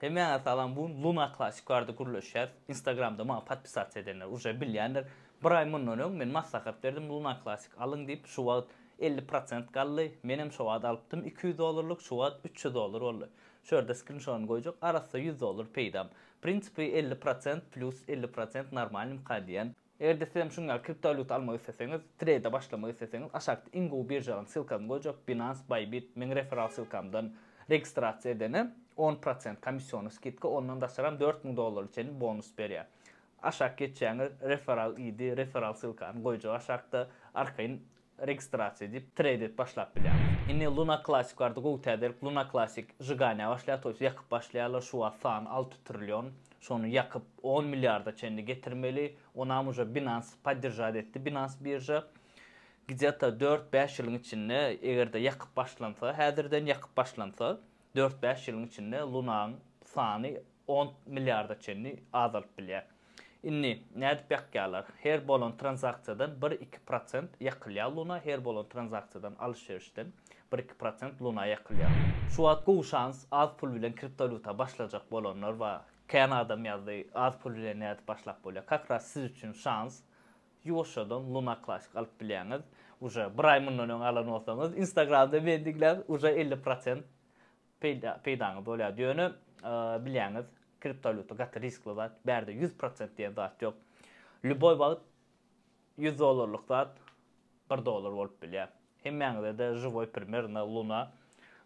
Hemmäňe salam bu gün Luna klasik barada gürleşýäs instagramda maňa podpisasiýa edenler uje bilýändir bir aý mundan öň men maslahat berdim Luna klasik alyň diýip şu wagt elli prosent galdy menem şo wagt alypdym iki ýüz dollarlyk şu wagt üç ýüz dollar boldy şu ýerde skrinşodyny goýjak arassa ýüz dollar peýdam prinsipi elli prosent plýus elli prosent normalnymka diýen Eger-de siz hem şunuň ýaly kriptowalýuta almak isleseňiz, treýde başlamak isleseňiz, aşakda iň gowy biržalaryň ssylkasyny goýjak, Binance, Bybit, meň referal ssylkamdan registrasiýa edene on prosent komissiony skidka, ondan daşary hem dört müň dollara çenli bonus berýär. Aşak geçýäňiz, referal ID, referal ssylkany goýjak aşakda, arkaýyn Registrasiýa edip, trade-et başlap bilýäňiz. Indi Luna Classic barada gowy täzelik, Luna Classic žyganýa başlaýar, toýs ýakyp başlaýarlar, şu wagt sany alty trillion, şony ýakyp on milliarda çenli getirmeli, onam uje Binance poddержать etdi, Binance birža, gdýeta dört bäş ýylyň içinde eger-de ýakyp başlansa, häzirden ýakyp başlansa, dört bäş ýylyň içinde Lunaň sany on milliarda çenli azalyp bilýär. Indi nädip ýakýarlar? Her bolan tranzaksiýadan bir-iki prosent ýakylýar Luna, her bolan tranzaksiýadan, alyş-berişden bir-iki prosent Luna ýakylýar. Şu wagt gowy şans, az pul bilen kriptowalýuta başlajak bolanlar bar. Kän adam ýazdy, az pul bilen nädip başlap bolýar? Kak ras siz üçin şans, ýuwaşjadan Luna Classic alyp bilýäňiz. Uje bir aý mundan öň alan bolsaňyz, instagramda meni diňläp, uje elli prosent peýdaňyz bolýar. Ýöne bilýäňiz, kriptowalýuta gaty riskli zat, bärde ýüz prosent diýen zat ýok. Lýuboý wagt ýüz dollarlyk zat bir dollar bolup bilýär. Hemmäňize-de žiwoý primer na Luna.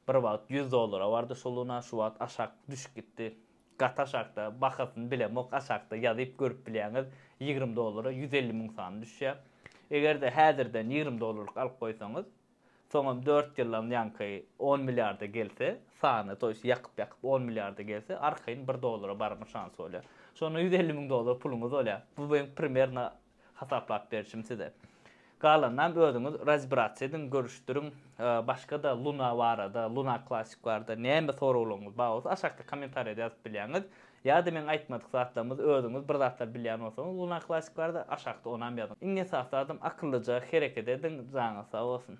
Bir wagt ýüz dollara bardy şu Luna, şu wagt aşak düşüp gitdi. Gaty aşakda, bahasyny bilemok, aşakda ýazyp görüp bilýäňiz, ýigrimi dollara ýüz elli müň sany düşýär. Eger-de häzirden ýigrimi dollarlyk alyp goýsaňyz, Soňam dört ýyldan ýaňky on milliarda gelse, sany, to ýest ýakyp-ýakyp on milliarda gelse, arkaýyn bir dollara barma şansy bolýar. Şonda ýüz elli müň dollar puluňyz bolýar. Bu meň primerno hasaplap berşim size. Galanynam özüňiz razbirasiýa ediň, görüşdiriň. Başga-da Luna barada, Luna Classic barada näme soraglaryňyz bar bolsa, aşakda kommentariýada ýazyp bilýäňiz. Ýa-da meň aýtmadyk zatlarymyz özüňiz bir zatlar bilýän bolsaňyz Luna Classic barada aşakda onam ýazyň. Iň esasy zadam akyllyja hereket ediň, janyňyz sag bolsun.